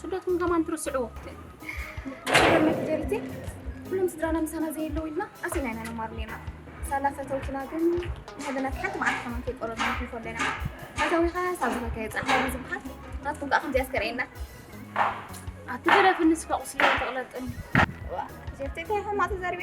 ስደትኩም ከማን ትርስዕዎ ጀሪቲ ኩሎም ስድራና ምሳና ዘየለው ኢልና ኣሲና ኢና ንማር ኔና ሳላ ፈተውትና ግን ንሕልናት ሓንቲ መዓልቲ ከማን ከይቆረብ ንሕልፎ ኣለና ኣዛዊኻ ሳብ ዝበልካ የፅናሕ ዝበሃል ናትኩም ከዓ ከምዚኣ ስከርእየና ኣቲ ገረፍንስ ከቁስለ ተቕለጥን ጀርቲ እንታይ ሕማቅ ተዛሪበ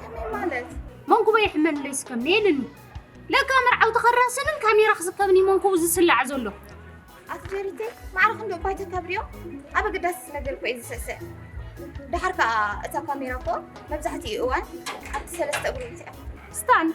ከመይ ማለት መንኩበ ይሕመንለይ ስከም ነየልኒ ለካ መርዓው ተኸራስንን ካሜራ ክስከብን ይመንኩቡ ዝስላዕ ዘሎ ኣትጀሪቴ ማዕረ ክንዶ እኳ ተከብሪዮ ኣብ ኣገዳሲ ነገር እኮ እዩ ዝስዕስዕ ድሓር ከዓ እታ ካሜራ እኮ መብዛሕትኡ እዋን ኣብቲ ሰለስተ እግሩ እትያ ስታንድ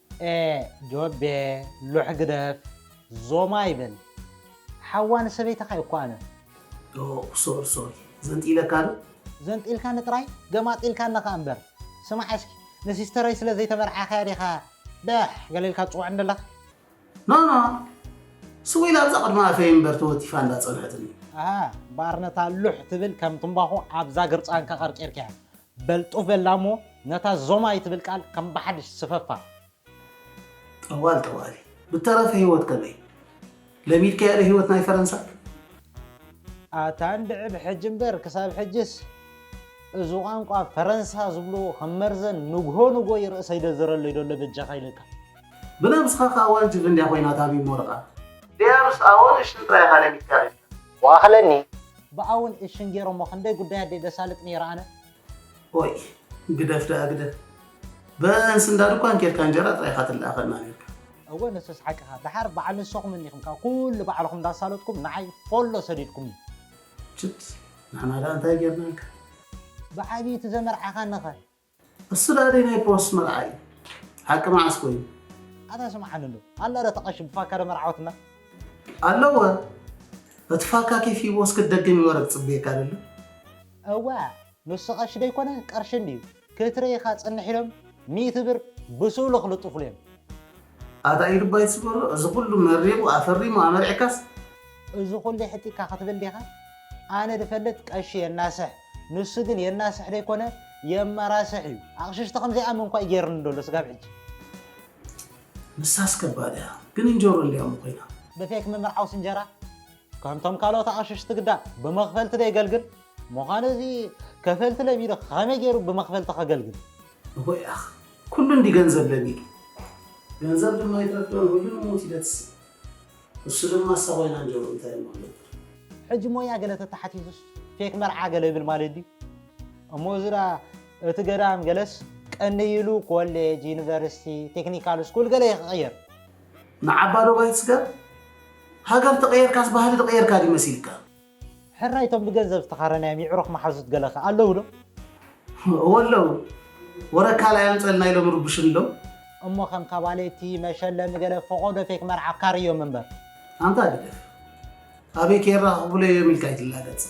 ኤእ ጆቤ ሎሕ ግደፍ ዞማ ይበል ሓዋ ንሰበይትኻ እየ እኮ ኣነ። ዶእ ሶል ሶል ዘንጢለካ ዶ? ዘንጢልካኒ ጥራይ ገማጢልካኒ ከኣ እምበር። ስማዕ እስኪ ንሲስተረይ ስለ ዘይተመርዓኻያ ዲኻ በሕ ገለ ኢልካ ትጽውዓኒ ዘለኻ? ኖኖ ስው ኢላ ኣብዛ ቅድሚ ኣፈይ እምበር ተወቲፋ እንዳ ጸንሐትኒ። ኣሃ ባርነታ ሉሕ ትብል ከም ትምባኾ ኣብዛ ግርጻንካ ቀርቂርካያ በልጡ በላ እሞ ነታ ዞማይ ትብል ቃል ከም ብሓድሽ ስፈፋ። ጠዋል ጠዋሊ ብተረፈ ህይወት ከመይ? ለሚድካዮ ዶ ህይወት ናይ ፈረንሳ? ኣታ እንድዒ ብሕጂ እምበር ክሳብ ሕጂስ እዚ ቋንቋ ፈረንሳ ዝብልዎ ከም መርዘን ንግሆ ንግሆ እዩ ርእሰይ ደዝረለይ ደሎ በጃኻ ኢለካ። ብነብስኻ ከኣ ዋልጅብ እንድያ ኮይና ታቢሞ ርኣ። ድያብስ ኣወ ንሽም ጥራይ ኢኻ ለሚድካ ሪኢካ። ዋኣኽለኒ። ብኣ ውን እሽን ጌሮሞ ክንደይ ጉዳይ ኣደይ ደሳልጥ ነይረ ኣነ። ኦይ ግደፍ ደኣ ግደፍ በእንስ እንዳ ድኳን ኬድካ እንጀራ ጥራይ ኢኻ ትለኣኸልና ኔርካ። እወ ንስስ ሓቅኻ ደሓር በዓል ንሰኹም እኒኹም ካብ ኩሉ ባዕልኹም እንዳሳለጥኩም ንዓይ ፎሎ ሰዲድኩምኒ። ችት ንሕና ደኣ እንታይ ጌርናልካ። ብዓብዪ እቲ ዘመርዓኻኒ ከ እሱ ዳኣ ደይ ናይ ፖስት መርዓ እዩ ሓቂ መዓስ ኮይኑ። ኣታ ስምዓኒ እንዶ ኣላ ዶ እታ ቀሺ ብፋካ ዶ መርዓወትና። ኣለወ እቲ ፋካ ኬፍ ሂብዎ እስኪ ትደግም ይወረ ትጽብየካ ደሎ። እወ ንሱ ቀሺ ደይኮነ ቀርሺ እንድዩ ክትርኢ ኢካ ጽንሕ ኢሎም ሚእቲ ብር ብሱእሉ ክልጥፉሉ እዮም። ኣታ ኢዱ እባ ኣይትስበሮ እዚ ኩሉ መሪቁ ኣፈሪሙ ኣመርዕካስ። እዚ ኩሉ የሕቲካ ክትብል ዲካ ኣነ ድፈልጥ ቀሺ የናስሕ ንሱ ግን የናስሕ ደይኮነ የመራስሕ እዩ ኣቅሽሽቲ ከምዘይኣምን እኳ እዩ ገይርኒ ደሎ ስጋብ ሕጂ። ንሳስ ከባድ እያ ግን እንጀሮ እንድያ እሞ ኮይና። ብፌክ ምምርዓውስ እንጀራ ከምቶም ካልኦት ኣቅሽሽቲ ግዳ ብመክፈልቲ ዶ የገልግል ምኳኑ እዚ ከፈልቲ ለሚዱ ከመይ ገይሩ ብመክፈልቲ ከገልግል። ንፉዕ ኢኻ ኩሉ እንዲ ገንዘብ ለሚዱ ገንዘብ ድማ ይትረፍዶን ሁሉ ንሞት ይደትስን እሱ ድማ እሳ ኮይና እንጀሮ እንታይ እሞ ክገብር። ሕጂ ሞያ ገለ ተታሓቲቱስ ፌክ መርዓ ገለ ይብል ማለት ድዩ እሞ እዚ ድኣ እቲ ገዳም ገለስ ቀንይ ኢሉ ኮሌጅ ዩኒቨርሲቲ ቴክኒካል ስኩል ገለ ይቅይር። ንዓባዶባይ ጽገብ ሃገር ተቀየርካስ ባህሊ ድቀየርካ ድዩ መሲልካ። ሕራይ እቶም ብገንዘብ ዝተኻረናዮም የዕሩኽ መሓዙት ገለ ከ ኣለዉ ዶ? እወ ኣለዉ። ወረ ካልኣይ ኣምጸልና ኢሎም ይርብሹኒ ኣለዉ። እሞ ከም ካባሌቲ፣ መሸለሚ ገለ ፈቖዶ ፌክ መርዓ ካርዮም እምበር። ኣንታ ግደፍ። ኣበይ ከየራኽቡለይ እዮም ኢልካ ኣይትላገጽ።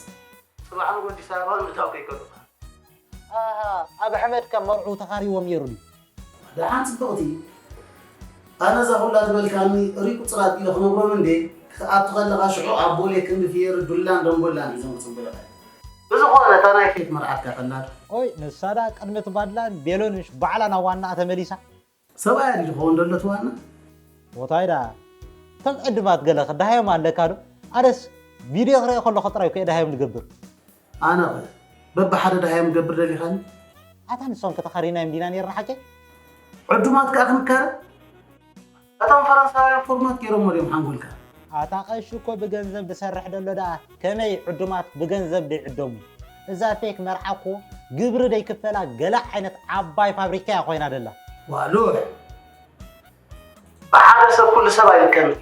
ጽባሕ ንግሆ ኣዲስ ኣበባ ምእታው ከይከሉኻ። ኣሃ ኣብ ኣሕመድ ከ መርዑ ተኻርይዎም ነይሩ ድዩ? ደሓን ጽብቕቲ፣ ኣነ እዛ ኩላ ዝበልካኒ እርይ ቁጽራት ኢለ ክነግሮም እንዴ ክትኣቱ ከለኻ ሽዑ ኣብ ቦሌ ክንዲ ፍየሪ ዱላን ደንጎላን እዩ ዘምጽቡልኻ። ብዝኾነ እታ ናይ ኬፍ መርዓትካ ፈላጥ። ቆይ ንሳ ድኣ ቅድሚ እቲ ባድላን ቤሎን ምሽ ባዕላ ናብ ዋናኣ ተመሊሳ? ሰብኣያ ድዩ ዝኸውን ዘሎ እቲ ዋና? ሞታይ ድኣ እቶም ዕዱማት ገለ ክደሃዮም ኣለካ ዶ ኣነስ ቪድዮ ክሪኦ ከለኩ ጥራይ እኮ እየ ደሃዮም ዝገብር። ኣነኸ በብሓደ ደሃዮም ክገብር ደሊኻኒ? ኣታ ንሶም ከ ተኻሪናዮም ዲና ኔርና ሓቀይ? ዕዱማት ከኣ ክንካረ? እቶም ፈረንሳውያን ፎርማት ጌሮሞ ድዮም ሓንጎልካ? ኣታ ቀሺ እኮ ብገንዘብ ድሰርሕ ደሎ ደኣ ከመይ ዕዱማት ብገንዘብ ደይዕደሙ? እዛ ፌክ መርዓ እኮ ግብሪ ደይክፈላ ገለ ዓይነት ዓባይ ፋብሪካ እያ ኮይና ደላ። ዋሉሕ! ብሓደ ሰብ ኩሉ ሰብ ኣይልከምን እዩ።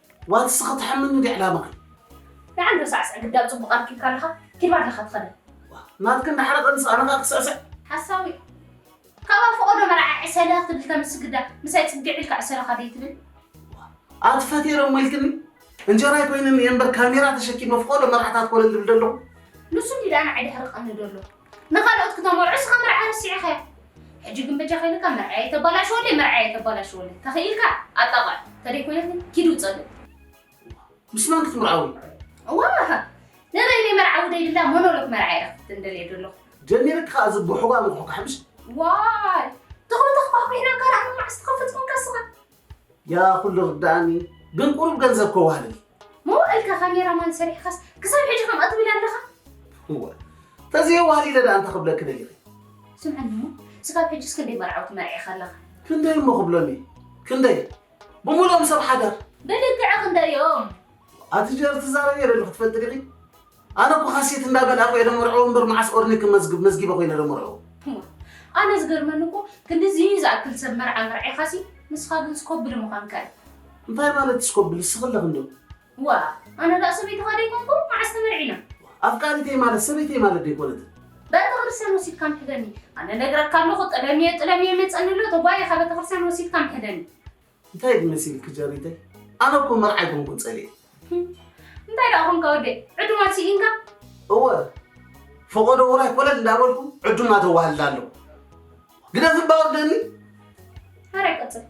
ዋይ ንስኺ ትሕምኒ ዲያ ዕላማኺ። ደሓን ዶ ሳዕስዕ ግዳ ጽቡቅ ኣርኪብካ ኣለኻ ኪድ ባድለኻ ትኸደ። ናትኪ እንዳሓረቀ ኣንስ ኣነ ከኣ ክስዕስዕ። ሓሳዊ ካብኣ ፈቆዶ መርዓ ዕሰለ ክትብል ተምስ ግዳ ምሳይ ጽግዕ ኢልካ ዕሰለኻ ደይትብል። ኣቲ ፈቴረ እሞ ኢልክኒ እንጀራይ ኮይንኒ እየ እምበር ካሜራ ተሸኪመ ፍቆዶ መርዓታት ኮለል ድብል ደለኹ። ንሱ እንዲዩ ደኣ ንዓይ ደሕሪ ቀንዶ ኣሎ። ንኻልኦት ክተመርዑ እስኻ መርዓ ረሲዕኻዮ ሕጂ ግን በጃኻ ኢለካ መርዓየይ ተባላሽወለይ መርዓየይ ተባላሽወለይ ተኺኢልካ ኣጣቕዕ ተደይ ኮይነት ግን ኪድ ውጸለይ ምስ መን ክትምርዓው እዩ ዋህ ንበይነይ መርዓዊ ደይብላ ሞኖሎክ መርዓ ኢለ ክትንደልየ ደለኹ ጀሚርክ ከኣ እዚ ብሑጓ ንኹ ክሕምሽ ዋይ ተኾተኽ ባሕኩሕና ካራ መዓስ ትኸፍት ኮንካ ስኻ ያ ኩሉ ርዳእኒ ግን ቁሩብ ገንዘብ ከዋህልል መዋእልካ ካሜራ ማን ሰሪሕኻስ ክሳብ ሕጂ ከምኣ ትብል ኣለኻ እወ ተዘይ ዋህሊለ ደኣ እንታይ ክብለኪ ደሊኺ ስምዐኒ እሞ ስጋብ ሕጂስ ክንደይ መርዓውቲ መርዒኻ ኣለኻ ክንደይ እሞ ክብሎኒ ክንደይ ብምሎም ሰብ ሓዳር ብልክዕ ክንደዮም ኣቲ ጀር ትዛረብ የለ ክትፈልጢ ዲኺ ኣነ እኮ ሃሴት እንዳ በልኣኩ እየ ደመርዕዎ እምበር መዓስ ኦርኒ ክመዝግብ መዝጊበ ኮይነ ደመርዕዎ። እሞ ኣነ ዝገርመኒ እኮ ክንድዚ ዝኣክል ሰብ መርዓ መርዒኻሲ ንስኻ ግን ስኮብል ምዃንካ እዩ። እንታይ ማለት ስኮብል እስኺ ኣለኺ ዶ? ዋእ ኣነ ድኣ ሰበይትኻ ደይኮንኩ መዓስ ተመርዒና። ኣፍቃሪተይ ማለት ሰበይተይ ማለት ደይኮነትን። በተክርስትያን ወሲድካ ምሕደኒ ኣነ ነግረካ ኣለኹ ጥለምየ ጥለምየ ይመጸኒ ኣሎ ተጓይኻ በተክርስትያን ወሲድካ ምሕደኒ። እንታይ ኢኺ መሲልኪ ጀሪተይ? ኣነ እኮ መርዓ ኣይኮንኩን ፀሊኤ። እንታይ ደኣ ኾንካ ወደይ ዕዱማት ስኢንካ? እወ ፈቆዶ ውራይ ኮለል እንዳበልኩ ዕዱማ ተዋህልል ኣለኹ። ግደፍ እባ ወደኒ ኧረ ቀፅል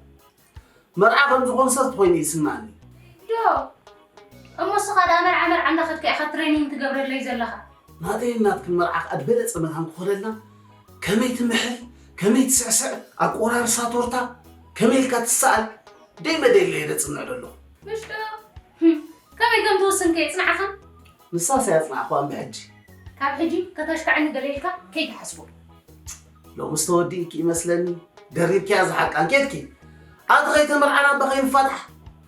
መርዓ ከምዚ ኮንሰርት ኮይኑ ይስማዕኒ። ዶ እሞ እስኻ ደኣ መርዓ መርዓ እንዳኸድካ ኢኻ ትሬኒንግ ትገብረለይ ዘለኻ። ናተይን ናትክን መርዓ ከኣ ድበለጸ መታን ክኾነልና ከመይ ትምሕል ከመይ ትስዕስዕ ኣቆራርሳ ቶርታ ከመይ ኢልካ ትሰኣል ደይ መደይ ኢለ እየ ደጽንዕ ደለኹ። ምሽ ዶ ህም ከመይ ከም ትውስን ከ የጽንዓኻ? ንሳስ ኣየጽናዕኩዋን ብሕጂ። ካብ ሕጂ ከተሽካዕኒ ደለ ኢልካ ከይትሓስቦ። ሎምስ ተወዲእኪ እመስለኒ ደሪብክያ ዝሓቃን ኬድኪ ኣንተ ከይተመርዓና እባ ከይንፋታሕ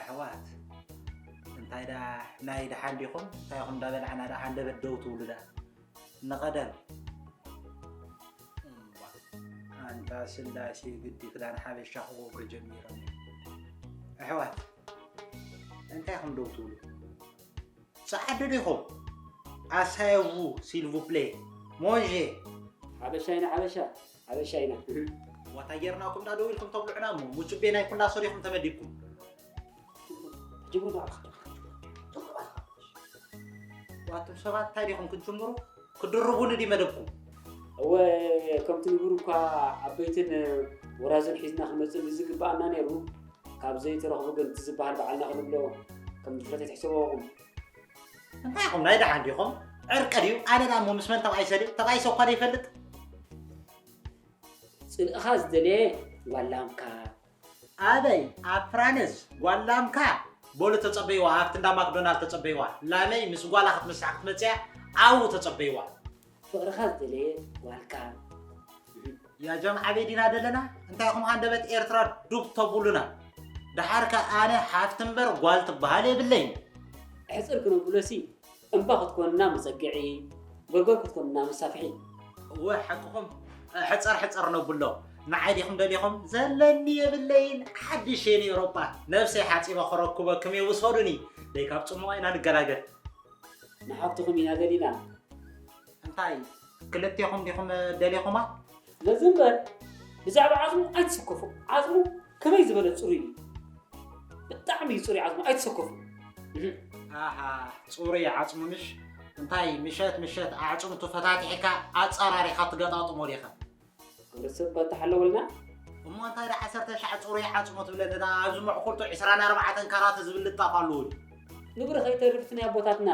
ኣሕዋት እንታይ ደኣ ናይ ደሓን ዲኹም እንታይ ኹም እንዳበላዕና ደኣ ሃንደበት ደው ትብሉ ደኣ ንቐደም ኣንታ ስላሴ ግዲ ክዳን ሓበሻ ክገብሩ ጀሚሮም ኣሕዋት እንታይ ኹም ደው ትብሉ ጸዓዱ ዲኹም ኣሳየዉ ሲልቭፕሌ ሞንዤ ሓበሻ ኢና ሓበሻ ሓበሻ ኢና። ዋታይ ጌርና ኩም ዳደው ኢልኩም ተብሉዑና እሞ ሙጩቤ ናይ ኩላ ሶር ኢኹም ተመዲብኩም። ትጅምሩ ዶ ኣልካ ዋቱም ሰባት ታይ ዲኹም ክትጅምሩ ክድርቡኒ ዲ መደብኩም እወ ከምቲ ንቡር እኳ ዓበይትን ወራዝን ሒዝና ክንመፅእ ብዝግባኣና ነይሩ ካብ ዘይተረኽቡ ግን እቲ ዝበሃል በዓልና ክንብሎ ከም ድፍረት ኣይትሕሰበኹም እንታይ ኢኹም ናይ ደሓን ዲኹም ዕርቂ ድዩ ኣለና እሞ ምስ መን ተባኢሰ ድዩ ተባኢሰ እኳ ዘይፈልጥ ፅልእኻ ዝደለየ ዋላምካ ኣበይ ኣብ ፍራንስ ጓላምካ በሉ ተፀበይዋ ኣብቲ እንዳ ማክዶናልድ ተፀበይዋ ላመይ ምስ ጓላ ክትምሳሕ ክትመፅያ ኣብኡ ተፀበይዋ ፍቅርኻ ዝደለየ ዋልካ። ያጀም ኣበይ ዲና ደለና እንታይ ኹም ሃንደበት ኤርትራ ዱብ ተቡሉና ደሓር ከ ኣነ ሓፍቲ እምበር ጓል ትበሃል የብለይን ሕፅር ክንብሎሲ እምባ ክትኮንና መፀግዒ ጎርጎር ክትኮንና መሳፍሒ እወ ሓቅኹም ሕፀር ሕፀር ነብሎ ንዓይ ዲኹም ደሊኹም ዘለኒ የብለይን ሓድሽ የን ኤውሮጳ ነብሰይ ሓፂበ ክረክበክም እየ ውሰዱኒ ደይ ካብ ፅሙቕ ኢና ንገላገል ንሓብትኹም ኢና ደሊና። እንታይ ክልቴኹም ዲኹም ደሊኹማ? ነዚ እምበር ብዛዕባ ዓጽሙ ኣይትሰከፉ። ዓጽሙ ከመይ ዝበለ ጽሩይ እዩ! ብጣዕሚ እዩ ጽሩይ ዓጽሙ፣ ኣይትሰከፉ። ኣሃ ጽሩይ ዓጽሙ ምሽ? እንታይ ምሸት ምሸት ኣዕጽምቱ ፈታቲሕካ ኣጸራሪኻ ትገጣጥሞ ዲኻ? ክብረተሰብ እኳ እንተሓለወልና። እሞ እንታይ ድኣ ዓሰርተ ትሽዓተ ጽሩይ ዓጽሙ ትብለኒና ኣብዚ መዕኹርቱ ዕስራን ኣርባዕተን ካራት ዝብል ልጣፍ ኣለዎ ድዩ? ንብሪ ከይተርፍስ ናይ ኣቦታትና።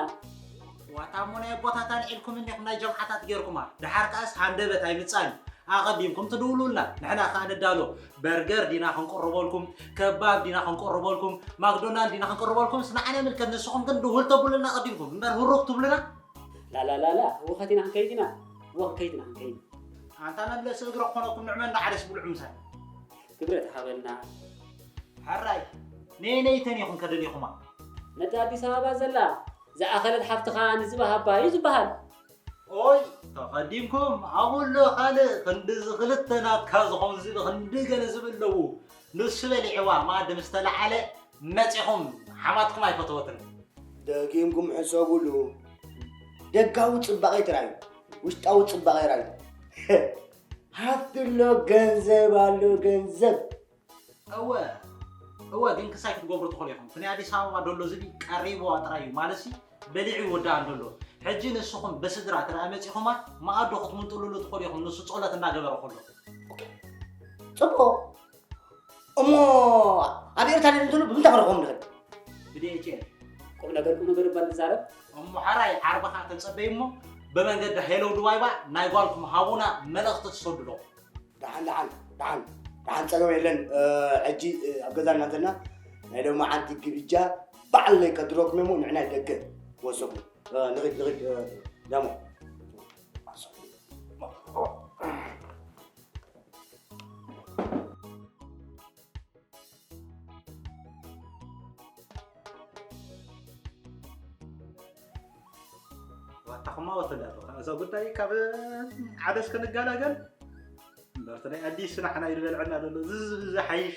ዋታ እሞ ናይ ኣቦታት ኣልዒልኩም እንዲኹም ናይ ጀምዓታት ጌርኩማ ድሓር ከኣስ ሃንደበት ኣይምጻን እዩ ኣቐዲምኩም ትድውሉልና ንሕና ከኣ ንዳሎ በርገር ዲና ክንቅርበልኩም ከባብ ዲና ክንቅርበልኩም ማክዶናልድ ዲና ክንቅርበልኩምስ ንዓና ይምልከት ንስኹም ግን ድውል ተብሉልና ኣቐዲምኩም እምበር ህሩግ ትብሉና ላላላላ ህውኸት ኢና ክንከይድ ኢና ወክ ከይድ ኢና ክንከይድ ኣንታ መምለሲ እግረ ክኾነኩም ንዕመ እንዳዓደስ ብልዑ ምሳይ ክብረት ሃበና ሕራይ ነየነይ ተኒኹም ከደሊኹማ ነቲ ኣዲስ ኣበባ ዘላ ዝኣኸለት ሓፍትኻ ንዝባ ሃባ እዩ ዝበሃል ኦይ ተቐዲምኩም ኣብሎ ካልእ ክንዲ እዚ ክልተ ናትካ ዝኾን ዝቢ ክንዲ ገለ ዝብል ኣለዉ ንሱ በሊዕዋ መኣዲ ምስ ተለዓለ መጺኹም ሓማትኩም ኣይፈተወትን። ደጊምኩም ሕሰቡሉ። ደጋዊ ጽባቄ ትራዩ ውሽጣዊ ጽባቄ ራዩ ሃብቲ ኣሎ ገንዘብ ኣሎ ገንዘብ እወ እወ ግን ክሳይ ክትገብሩ ትኽእሉ ኢኹም። ፍናይ ኣዲስ ኣበባ ደሎ ዝቢ ቀሪብዋ ጥራይ እዩ ማለሲ በሊዑ ይውዳእ ኣሎ ኣሎ ሕጂ ንስኹም ብስድራ ተረኣ መጺኹማ መኣዱ ክትምንጥሉሉ ትኽእሉ ኢኹም ንሱ ጸሎት እናገበረ ከሎ ጽቡቕ እሞ ኣብ ኤርትራ ንትሉ ብምንታይ ክንረኽቦም ንኽእል ብዲኤችኤል ቁም ነገር ቁም ነገር እባ ንዛረብ እሞ ሓራይ ዓርብኻ ተጸበዩ እሞ ብመንገዲ ሄሎ ድዋይባ ናይ ጓልኩም ሃቡና መልእኽቲ ትሰዱ ኣለኹም ደሓን ደሓን ደሓን ደሓን ፀገም የለን ሕጂ ኣብ ገዛ እናተና ናይ ሎሚ ዓንቲ ግብጃ ባዕለይ ከድረኩም እሞ ንዕና ደገ ወሰኹ ንኽድ ንኽድ ደሞ ዋጣኹማ ወተዳሉ እዛ ጉዳይ ካብ ዓደስ ክንገላገል እምበርቲ ናይ ኣዲስ ናሕና ይበልዐና ዘሎ ዝሓይሽ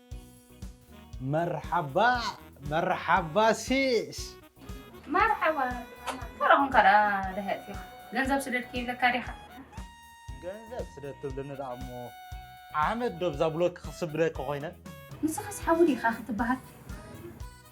መርሓባ መርሓባ ሲስ። መርሓባ ተረኹም ከኣ ደሃይ ጺዮኽ ገንዘብ ስደድኪ ይብለካ ዲኻ። ገንዘብ ስደድ ትብለኒ ደኣ እሞ ዓመት ዶ ብዛ ብሎክ ክስብደኪ ኮይነ። ንስኻስ ሓዊ ዲኻ ክትበሃል።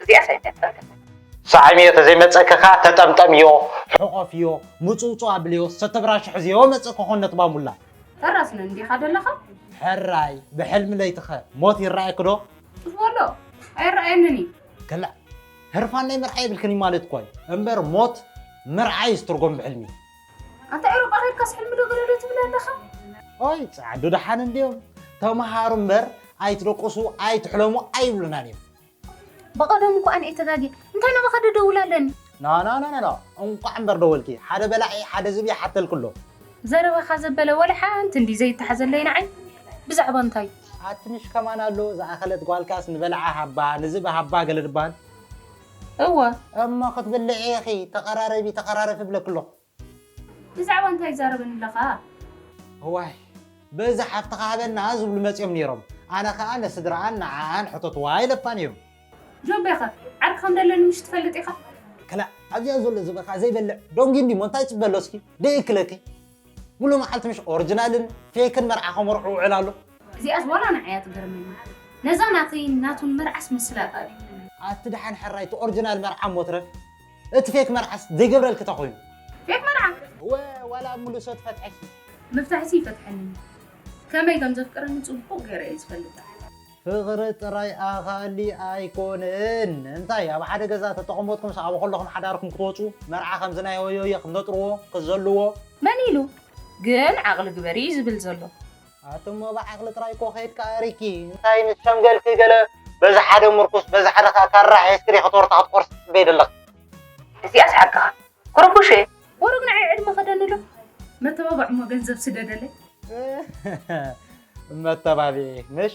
እዚኣ ሳይ መጸከ ሳዕምዮ ተዘይመጸከኻ ተጠምጠምዮ ሕቆፍዮ ሙጽውጹው ኣብልዮ ሰተብራሽ ሕዝዮ መጽእ ኮኾን ነትባ ሙላ። ሕራስ ነን ዲኻ ደለኻ? ሕራይ ብሕልሚ ለይቲኸ ሞት ይረኣየኪ ዶ? ሱስ በሎ ኣይረኣየንን እዩ። ከላ ህርፋን ናይ ምርዓይ የብልክን እዩ ማለት እኳ እዩ እምበር ሞት ምርዓይ እዩ ዝትርጎም ብሕልሚ። ኣንታ ኤሮጳ ከድካስ ሕልሚ ዶ ገለ ዶ ትብል ኣለኻ? ኦይ ጸዓዱ ደሓን እንድዮም ተምሃሩ እምበር ኣይትደቁሱ ኣይትሕለሙ ኣይብሉናን እዮም። በቐደሙ እኳ ኣነ'የ ተጋግየ እንታይ ናባኻ ደደውል ኣለኒ። ኖኖኖኖ እንቋዕ እምበር ደወልኪ ሓደ በላዒ ሓደ ዝብኢ ሓተልኪ ኣሎ። ዘረባኻ ዘበለ ወላ ሓንቲ እንድዩ ዘይተሓዘለይ ንዓይ ብዛዕባ እንታዩ። ኣቲ ምሽ ከማን ኣሎ ዝኣኸለት ጓልካስ ንበላዓ ሃባ ንዝብኢ ሃባ ገለ ድባል። እወ። እሞ ክትብልዒ ኢኺ ተቐራረቢ ተቐራረፊ እብለኪ ኣለኹ። ብዛዕባ እንታይ ይዛረበኒ ኣለኻ? እዋይ በዚ ሓፍትኻ ሃበና ዝብሉ መጺኦም ኔሮም ኣነ ከኣ ንስድርኣን ንዓኣን ሕተትዋ ኢለታ ኔሩ። ጆቤኸ ዓርኪ ከም ደለኒ ምሽ ትፈልጥ ኢኻ? ክላእ ኣብዚኣ ዘሎ ዝበካ ዘይበልዕ ዶንጊ እንዲሞ እንታይ ይጽበ ኣሎ እስኪ ደይእክለኪ ሙሉእ መዓልቲ ምሽ ኦርጅናልን ፌክን መርዓ ከመርዑ ውዕል ኣሎ። እዚኣስ ዋላ ንዓይ እያ ትገርመኒ ነዛ ናተይን ናቱን መርዓስ ምስላጥ ኣዩ። ኣቲ ደሓን ሕራይ እቲ ኦርጅናል መርዓ እሞ ትረፍ። እቲ ፌክ መርዓስ ዘይገብረልኪ እንታይ ኮይኑ? ፌክ መርዓ? እወ ዋላ ኣብ ምሉእ ሰት ፈትሐኪ። ምፍታሕሲ ይፈትሐኒ እዩ ከመይ ከም ዘፍቅረኒ ጽቡቕ ገይረ እየ ዝፈልጥ። ፍቕሪ ጥራይ ኣኻሊ ኣይኮነን እንታይ ኣብ ሓደ ገዛ ተተቐመጥኩም ሰዓቡ ከለኹም ሓዳርኩም ክትወጹ መርዓ ከምዚ ናይ ሆዮየ ክትነጥርዎ ክትዘልዎ። መን ኢሉ ግን ዓቕሊ ግበሪ እዩ ዝብል ዘሎ። ኣቲ እሞ ብዓቅሊ ጥራይ እኮ ከይድካ ሪኪ እንታይ ምስ ሸምገልኪ ገለ በዚ ሓደ ምርኩስ በዚ ሓደ ከኣ ካራ ሒዝኪ ዲኪ ቶርታ ክትቆርሲ ትጽበዪ ዘለኪ። እዚኣስ ሓቅኻ ኩሩኩሼ። ቡሩክ ንዓይ ዕድመ ክደኒ ዶ መተባብዕ እሞ ገንዘብ ስደደለይ። መተባብዒ ምሽ።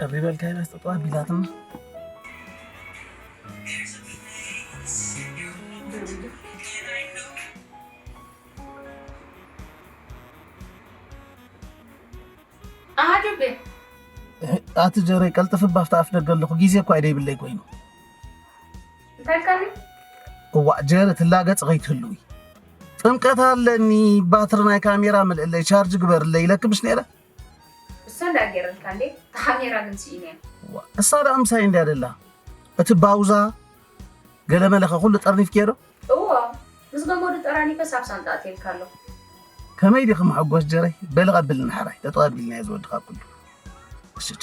ቀሪ በልካ ይላስ ጠጠዋ ቢላትም ኣቲ ጀረይ ቀልጥፍ ባፍታ ኣፍ ደገ ኣለኹ ግዜ እኳ ይደይብለይ ኮይኑ እዋእ ጀረ ትላገፅ ከይትህልዊ ጥምቀት ኣለኒ ባትሪ ናይ ካሜራ ምልእለይ ቻርጅ ግበርለይ ኢለክምሽ ነረ እሳ ድኣ ጌረልካ እንዴ ታካሜራ ግን ሲኢነያ። ዋእ እሳ ድኣ ምሳይ እንድያ ደላ እቲ ባውዛ ገለመለ ከ ኩሉ ጠርኒፍክዮ ዶ? እዎ ምስ ገመዱ ጠራኒፈስ ኣብ ሳንጣ ኣትየልካ ኣለኩ። ከመይ ዲኺ መሐጎስ ጀረይ በሊ ቀብልኒ ሐራይ ጠጠው ኣቢልናዮ ዝወዲ ካብ ኩሉ። ወስቻ።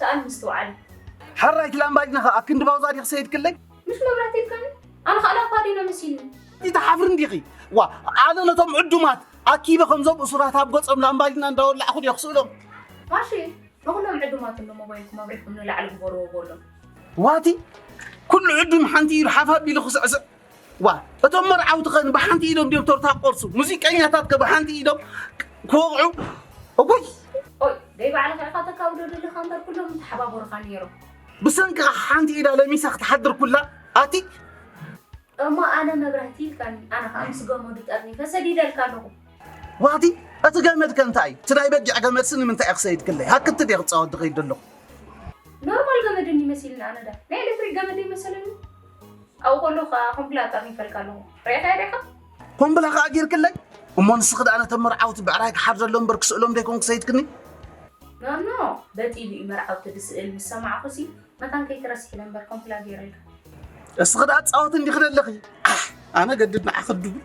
ሰኣን ምስትውዓል። ሕራይ እቲ ላምባዲና ከ ኣብ ክንዲ ባውዛ ድዩ ክሰይድክለይ? ምስ መብራህቲ ኢልካኒ ኣነ ከኣ ላምባዲና መሲልኒ። ኣይትሓፍርን ዲኺ? ዋ ኣነ ነቶም ዕዱማት ኣኪበ ከምዞም እሱራት ኣብ ገጾም ላምባዲና እንዳወላዕኹ ድየ ክስእሎም? ማሺ ንኹሎም ዕዱማት እንዶ ሞባይልኩም ኣብሪህኩም ንላዕሊ ግበርዎ በሎም። ዋቲ ኩሉ ዕዱም ሓንቲ ኢዱ ሓፍ ኣቢሉ ክስዕስዕ ዋእ እቶም መርዓውቲኸ ብሓንቲ ኢዶም ድዮም ቶርታ ክቆርሱ ሙዚቀኛታትከ ብሓንቲ ኢዶም ክወቕዑ እውይ ኦይ ደይ ባዕልኻ ኢኻ ተካውዶ ደለኻ እምበር ኩሎም ተሓባበሩኻ ነይሮም ብሰንኪ ሓንቲ ኢዳ ለሚሳ ክትሓድር ኩላ ኣቲ እሞ ኣነ መብራህቲ ኢልካኒ ኣነ ከዓ ምስ ገመዱ ጠርኒፈ ሰዲደልካ ኣለኹ ዋቲ እቲ ገመድ ከ እንታይ እዩ እቲ ናይ በጊዕ ገመድሲ ንምንታይ እዩ ክሰይድ ክለይ ሃክቲ ድየ ክፃወት ድኸይድ ኣለኹ ኖርማል ገመድ እንዲመስልኒ ኣነ ዳ ናይ ኤሌክትሪክ ገመድ ይመሰለኒ ኣብኡ ከለኹ ከኣ ኾም ብላ ኣጻፊፈልካ ኣለኹ። ርኣኻያ ዲኻ? ኾም ብላ ከኣ ጌርክለይ? እሞ ንስኺ ደኣ ነቶም መርዓውቲ ብዕራይ ክሓርደሎም እምበር ክስእሎም ደይኮንኩ ሰይድክኒ? ኖኖ፣ በጢሉ እዩ መርዓውቲ ድስእል ምስ ሰማዕኩሲ፣ መታን ከይትረስሒ ኢለ እምበር ኾም ብላ ጌረልካ። እስኺ ደኣ ትጻወቲ እንዲኺ ደለኺ። ዓሕ! ኣነ ገድድ ንዓኺ ድብል።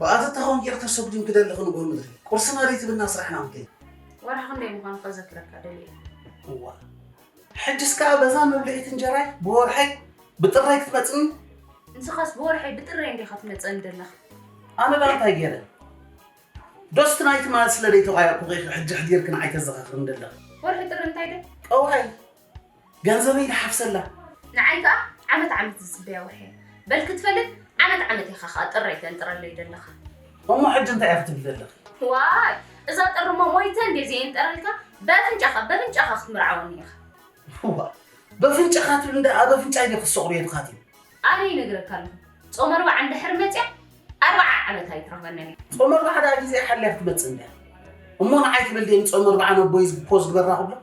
ብኣተ ተኾን ጌር ተሰጉዲም ክደሊ ክንጎ ምድሪ ቁርሲ መሬት ብና ስራሕና ምከይ ወርሒ ክንደይ ምዃኑ ከዘክረካ ደልየ እዋ ሕጅስ ከዓ በዛ መብልዒት እንጀራይ ብወርሐይ ብጥራይ ክትመፅኒ ንስኻስ ብወርሐይ ብጥራይ እንዲኻ ትመፀኒ ደለኻ ኣነ ዳ እንታይ ገይረ ዶስ ትናይ ትማል ስለ ደይተቋየቕኩ ኺ ሕጂ ሕዲርኪ ንዓይ ተዘኻኽርኒ ደለኺ? ወርሒ ጥሪ እንታይ ድያ? ቐውዐይ ገንዘበይ ድሓፍሰላ። ንዓይ ከኣ ዓመት ዓመት ዝጽበያ ወርሒ እያ። በል ክትፈልጥ ዓመት ዓመት ኢኻ ኸኣ ጥረይ ተንጥረለይ ደለኻ። እሞ ሕጂ እንታይ ኢኺ ትብሊ ደለኺ? ዋይ እዛ ጥሪ እሞ ሞይተ እንድየ ዘየንጥረልካ በፍንጫኻ በፍንጫኻ ክትምርዓወኒ ኢኻ። ዋእ በፍንጫኻ ትብል እንዳ ኣብ ኣፍንጫይ ድየ ክሰቑር የድኻትዩ። ኣነ ይነግረካ ኣለኹ ጾም ኣርብዓ እንድሕር መጽያ ኣርብዓ ዓመት ኣይትረኽበንን እያ። ጾም ኣርብዓ ደኣ ግዜኣ ሓልያ ክትመጽእ እንድያ እሞ ንዓይ ትብል ድየ ንጾም ኣርብዓ ነቦይ ፖዝ ግበራ ክብሎ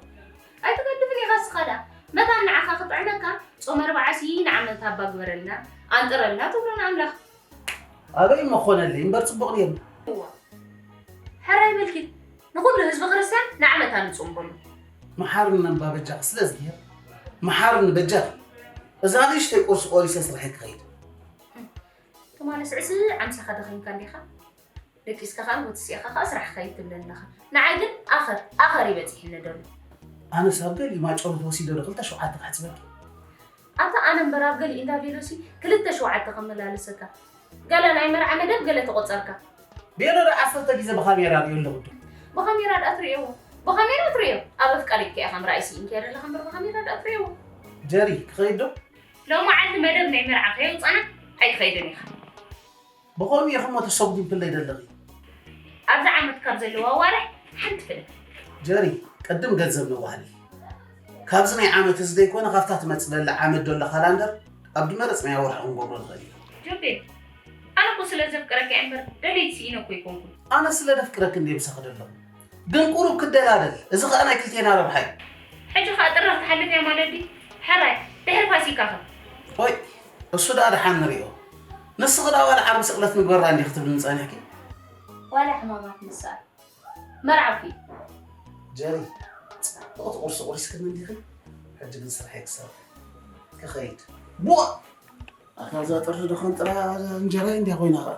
ኣይትገድፍን ኢኻ እስኻ ደኣ መታን ንዓኻ ክጥዕመካ ጾም ኣርብዓሲ ንዓመት ኣባ ግበረልና ኣንጥረልና ትብሎ ንኣምላኽ ኣበይ እሞ ክኾነልይ እምበር ፅቡቕ ነይሩ። እዋ ሕራይ በልኪ ንኹሉ ህዝቢ ክርስቲያን ንዓመት ኣንጹም በሉ። መሓርኒ እምባ በጃኺ ስለ እዝግሄር መሓርኒ በጃኺ እዛ ንእሽተይ ቁርሲ ቆሪሰ ስርሐይ ክኸይድ። ትማሊ ስዕስዕ ዓምሰኻ ደኺምካ እንዲኻ። ደቂስካ ከኣ ወትሲእኻ ከኣ ስራሕ ከይድ ትብለኒ ኣለኻ ንዓይ ግን ኣኸር ኣኸር እዩ በጺሕኒ ደሎ። ኣነስ ኣብ ገሊኡ ማጮሎት ወሲደ ዶ ክልተ ሸውዓተ ከሕጽበኪ። ኣታ ኣነ እምበር ኣብ ገሊኡ እንዳ ቬሎሲ ክልተ ሸውዓተ ከመላለሰካ ገለ ናይ መርዓ መደብ ገለ ተቆጸርካ። ቬሎ ዶ ዓሰርተ ግዜ ብካሜራ ሪኦ ኣለኹ ዶ። ብካሜራ ድኣ ትርእዮ ብካሜራ ትርእዮ ኣብ ኣፍቃሪት ከ ኢኻ ምርኣይ ስኢንኪ እያ ዘለኻ እምበር ብካሜራ ድኣ ትርእዮ። ጀሪ ክኸይድ ዶ? ሎማዓንቲ መደብ ናይ መርዓ ከየውጻና ኣይትኸይድን ኢኻ። ብኸምኡ ኢኺሞ ተሰጒምክለይ ደለኺ። ኣብዚ ዓመት ካብ ዘለዉ ኣዋርሕ ሓንቲ ፍለ። ጀሪ ቅድም ገንዘብ ነዋህሊ። ካብዚ ናይ ዓመት እዚ ዘይኮነ ካብታ ትመጽእ ዘላ ዓመት ደሎ ካላንደር ኣብ ድመረጽናዮ ወርሒ ክንገብሮ ንኽእል ኢና። ጆቤል ኣነ እኮ ስለ ዘፍቅረኪ እምበር ደለይቲ ስኢነ እኮ ኣይኮንኩን። ኣነ ስለ ደፍቅረኪ እንድየ ምሳኺ ደለኹ ግን ቁሩብ ክደላደል እዚ ከኣ ናይ ክልቴና ረብሓ እዩ። ሕጂ ከኣ ጥሪ ክትሓልፍ እያ ማለት ድዩ? ሕራይ ድሕሪ ፋሲካ ከ? ቆይ እሱ ድኣ ድሓን ንሪኦ። ንስኺ ድኣ ዋላ ዓርቢ ስቅለት ንግበራ እንዲኺ ትብልኒ ጸኒሕኪ። ዋላ ሕማማት ንስኣል መርዓውኪ። ጀሪ ጽብቅቲ ቁርሲ ቁሪስክኒ እንዲኺ ሕጂ ግን ስርሐይ ክሰርሕ ክኸይድ። ቡእ! ኣታ እዛ ጥርዚ ድኾን ጥራ እንጀራይ እንዲያ ኮይና ኸኣ።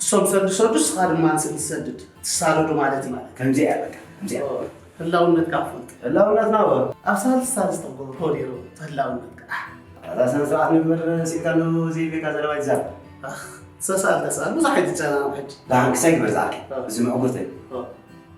እሶም ሰዱ ሰዱ እስኻ ድማ ንስዲ ሰድድ ትሳደዱ ማለት እዩ ማለት ከምዚኣ እያ በቃ ከምዚኣ ህላውነትካ ኣፍልጥ ህላውነትና ወ ኣብ ሳልስ ሳልስ ተጎ ኮዲሩ ህላውነትካ ኣዛ ስነ ስርዓት ንግበር ሲኢልካ ኣሎ ዘይቤካ ዘለዋ ይዛር ሰሳል ተሳል ብዙሕ ኣይትጨናነቅ ሕጂ ዳሓንክሳይ ግበር ዛዓኪ እዚ ምዕጉርተይ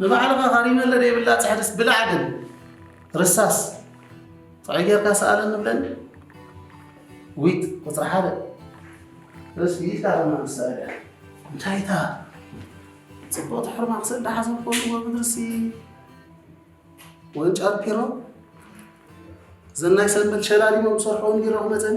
ንባዕልኻ ካሪመለ ዘይብላ ፅሕድስ ብላዕ ግን ርሳስ ጥዑይ ጌርካ ሰኣለኒ ብለኒ ዊት ቁፅሪ ሓደ ርስ ይኢልካ ድማ ምሰኣልያ እንታይ እታ ፅቡቕ ትሕርማ ክሰዳ ሓዘን ክኾንዎ ምድርሲ ወንጫር ፒሮ ዘናይ ሰንበል ሸላሊሞም ዝሰርሖም ቢሮ ክመፀኒ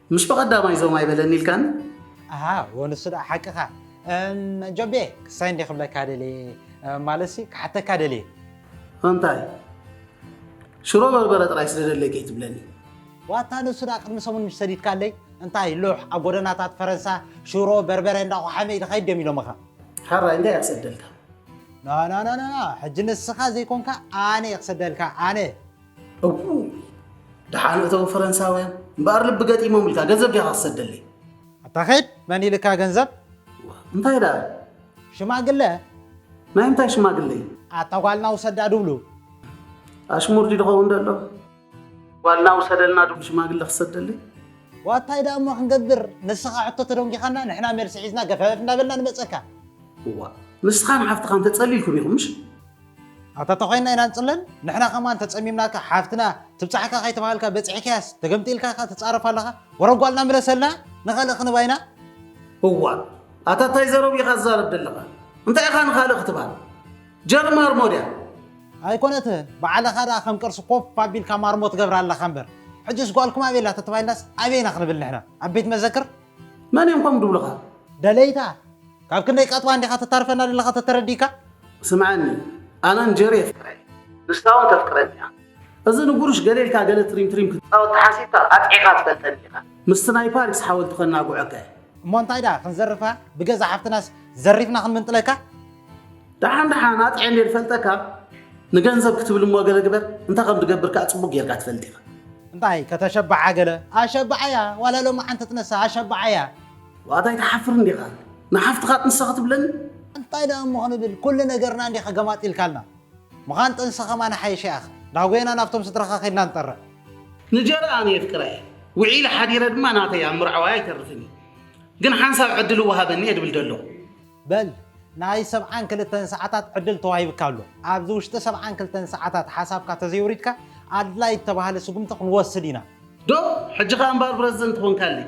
ምስ ብቐዳማይ ዞም ኣይበለኒ ኢልካኒ? ኣሃ ንሱ ደኣ ሓቅኻ። እም ጆቤ ክሳይ እንድየ ክብለካ ደልየ፣ ማለትሲ ክሓተካ ደልየ። እንታይ ሽሮ በርበረ ጥራይ ስለ ደለየ ከይትብለኒ። ዋታ ንሱ ደኣ ቅድሚ ሰሙን ምሽ ሰዲድካለይ እንታይ ሉሕ ኣብ ጎደናታት ፈረንሳ ሽሮ በርበረ እንዳ ቆሓመ ኢልኻ ሂብ ድዮም ኢሎምኻ? ሐራይ እንታይ እየ ክሰደልካ? ኖኖኖኖ ሕጂ ንስኻ ዘይኮንካ ኣነ እየ ክሰደልካ ኣነ። እዉ ደሓን እተዉ ፈረንሳውያን እምበኣር ልቢ ገጢሞም ኢልካ ገንዘብ ዲኻ ትሰደለይ ኣታ ኸይድ መን ኢልካ ገንዘብ እንታይ ደኣ ሽማግለ ናይ እንታይ ሽማግለ እዩ ኣታ ጓልና ውሰዳ ድብሉ ኣሽሙር ድዩ ድኸውን ደሎ ጓልና ውሰደልና ድብሉ ሽማግለ ክሰደለይ ዋታይ ደኣ እሞ ክንገብር ንስኻ ሕቶ ተደንጊኻና ንሕና መልሲ ሒዝና ገፈፍ እንዳበልና ንመፀካ እዋ ንስኻን ሓፍትኻን ተጸሊልኩም ኢኹም ምሽ ኣታ ተኾይንና ኢና ንጽለል ንሕና ከማን ተጸሚምናካ ሓፍትና ትብጻሕካ ከይተባሃልካ በጺሕክያስ ተገምጢልካ ከኣ ትጻረፍ ኣለኻ ወረ ጓልና ምለሰልና ንኻልእ ክንባ ኢና። እዋ ኣታ ታይ ዘረቡ ኢኻ ትዛረብ ደለኻ እንታይ ኢኻ ንኻልእ ክትባል ጀር ማርሞ ድያ። ኣይኮነትን ባዕልኻ ደኣ ከም ቅርሲ ኮፍ ኣቢልካ ማርሞ ትገብራ ኣለኻ እምበር ሕጅስ ጓልኩም ኣበይ ኣላ ተተባሂልናስ ኣበይ ኢና ክንብል ንሕና ኣብ ቤት መዘክር። መን እዮም ከምኡ ድብሉኻ። ደለይታ ካብ ክንደይ ቀጥባ እንዲኻ ተታርፈና ዘለኻ ተተረዲእካ። ስምዓኒ ኣነ ንጀሪ የፍቅራ እየ ንሳ ውን ተፍቅረኒ እያ እዚ ንጉሩሽ ገለ ኢልካ ገለ ትሪም ትሪም ክትጻወት ተሓሲብካ ኣጥዒኻ ትፈልጠኒ ኢኻ ምስቲ ናይ ፓሪስ ሓወልቲ ከናጉዐካ እየ። እሞ እንታይ ደኣ ክንዘርፋ ብገዛእ ሓፍትናስ ዘሪፍና ክንምንጥለካ። ደሓን ደሓን ኣጥዕየ እንድየ ዝፈልጠካ ንገንዘብ ክትብል እሞ ገለ ግበር እንታይ ከም ትገብር ከኣ ጽቡቕ ጌርካ ትፈልጥ ኢኻ። እንታይ ከተሸብዓ ገለ ኣሸብዓያ ዋላ ሎሚ ሓንቲ ትነሳ ኣሸብዓያ። ዋእታ ኣይትሓፍርን ዲኻ ንሓፍትኻ ጥንሰ ክትብለኒ? እንታይ ደኣ እሞ ክንብል ኩሉ ነገርና እንዲኻ ገማጢልካልና። ምኻን ጥንሰ ከማን ይሓይሽ ያኣኺ። ዳጎየና ናብቶም ስድራኻ ከድና ንጠርዕ። ንጀርኣ ኣነ የፍቅራ እየ ውዒለ ሓዲረ ድማ ናተይ ኣብ ምርዓዋይ ኣይተርፍን እዩ ግን ሓንሳብ ዕድል እወሃበኒ እየ ድብል ደለኹ። በል ናይ ሰብዓን ክልተን ሰዓታት ዕድል ተዋሂብካ ኣሎ። ኣብዚ ውሽጢ ሰብዓን ክልተን ሰዓታት ሓሳብካ ተዘይውሪድካ ኣድላይ እተባህለ ስጉምቲ ክንወስድ ኢና። ዶ ሕጂ ከኣ እምበኣር ብረዝደንት ኾንካለይ።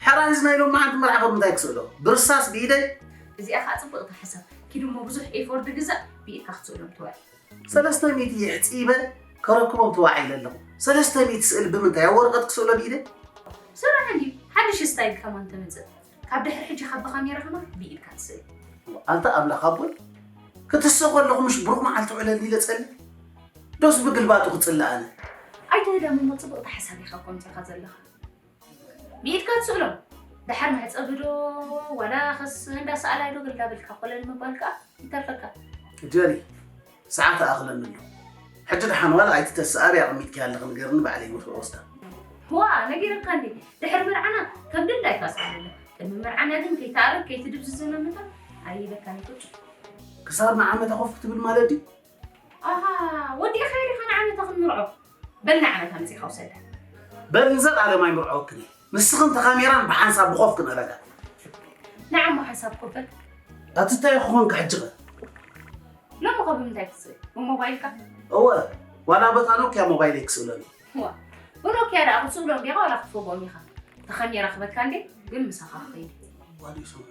ሕራይ እዚ ናይ ሎምዓንቲ መርዓ ካብ ምንታይ ክስእሎ ብርሳስ ብኢደይ። እዚኣ ከኣ ጽብቅቲ ሓሳብ ኪዱ እሞ ብዙሕ ኤፎርድ ግዛእ ብኢድካ ክትስእሎም ትዋዒ። ሰለስተ ሚእቲ የሕጺበ ከረክቦም ተዋዒለ ኣለኹ ሰለስተ ሚእቲ ስእሊ ብምንታይ ኣብ ወረቀት ክስእሎ ብኢደይ። ስራሕ እንድዩ ሓድሽ ስታይል ከማን ተምጽእ ካብ ድሕሪ ሕጂ ካብ ብካሜራ ከማን ብኢድካ ትስእል። ኣንታ ኣምላኽ ኣቦይ ክትስእ ከለኹ ምሽ ብሩኽ መዓልቲ ውዕለኒ ኢለ ጸልእ ዶስ ብግልባጡ ክጽልእ ኣነ። ኣይተ ህዳም እሞ ጽብቅቲ ሓሳብ ኢኻ ቆንጺኻ ዘለኻ ብኢድካ ትስእሎ ደሓር መሕጸቢ ዶ ዋላ ከስ እንዳ ሰኣላይ ዶ ግልዳብልካ ኮለል ምባል ከኣ ይተርፈካ። ጀሪ ሰዓት ኣኽለኒ ኣሎ ሕጂ ደሓን ዋላ ኣይትተሰኣሪ ኣቐሚጥኪያ ኣለኺ ንገርኒ ባዕለይ ወፍሪ ወስዳ ዋ ነጊረካ እንዴ ድሕሪ መርዓና ከም ድላይካ ስኣለለ ቅድሚ መርዓና ግን ከይትኣርብ ከይትድብዝዘ መምታ ኣይበካኒ ቁጭ ክሳብ ንዓመታ ኮፍ ክትብል ማለት ድዩ ኣሃ ወዲእኻዮ ዲኻ ንዓመታ ክንምርዖ? በል ንዓመታ መጺእኻ ውሰዳ። በል ንዘልኣለም ኣይምርዐወክን እየ ንስኽን ተኻሚራን ብሓንሳብ ብኾፍ ክነረጋ። ንዓሞ ሓንሳብ ኮፍ በል። ኣቲ እንታይ ክኾንካ ሕጂ ኸ? ሎሚ ኸ ብምንታይ ክትስእል? ብሞባይልካ? እወ ዋላ በታ ኖክያ ሞባይለይ ክስእለኒ። ዋ ብኖክያ ደኣ ክትስእሎም ዲኻ ዋላ ክትፈግኦም ኢኻ? ተኻሚራ ክበካ እንዴ ግን ምሳኻ ክኸይድ እዩ። ዋላ ይሰምዑ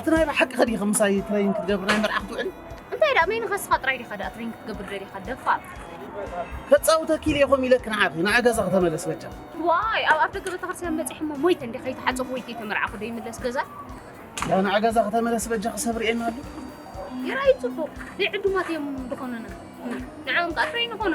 እቲ ናይ ብሓቂ ከዲኺ ምሳይ ትሬኒንግ ክትገብሪ ናይ መርዓ ክትውዕሊ እንታይ ደኣ መይንኻ ንስኻ ጥራይ ዲኻ ደኣ ትሬኒንግ ክትገብር ደሊኻ ደፋር ከፃውተኪ ኢለ ኢኹም ኢለኪ ንዓኺ ንዓ ገዛ ከተመለስ በጃ ዋይ ኣብ ኣፍ ደገ ቤተክርስትያን በፂሐ እሞ ሞይተ እንዲ ከይተሓፀኹ ወይ ከይተመርዓኹ ዶ ይምለስ ገዛ ያ ንዓ ገዛ ከተመለስ በጃ ክሰብ ርኤና ኣሎ ይርኣዩ ፅቡቕ ዘይዕዱማት እዮም ዝኾኑና ንዕኦም ከዓ ትሬን ይኾኑ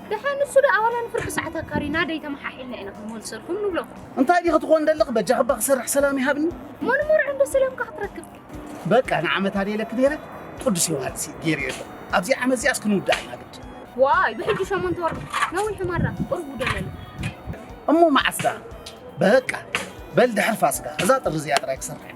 ደሓር ንሱ ደኣ ዋላ ንፍርቂ ሰዓት ኣካሪና ደይ ተመሓሒልና ኢና ክንወልሰልኩም ንብለኩም። እንታይ ዲኺ ትኾን ደለኺ በጃኺ እባ ክሰርሕ ሰላም ይሃብኒ። መን መርዑ እንዶ ሰላምካ ክትረክብ። በቃ ንዓመት ኣደ ኢለኪ ነይረ ቅዱስ ዮውሃንስ እዩ ገይሩ የለ ኣብዚ ዓመት እዚኣስ ክንውድኣ ኢና ግድ። ዋይ ብሕጂ ሸሞንተ ወርሒ ነዊሑ ማራ ቁሩብ ውደለሉ። እሞ መዓስ ደኣ በቃ በል ድሕሪ ፋስጋ እዛ ጥሪ እዚኣ ጥራይ ክሰርሕ እዩ።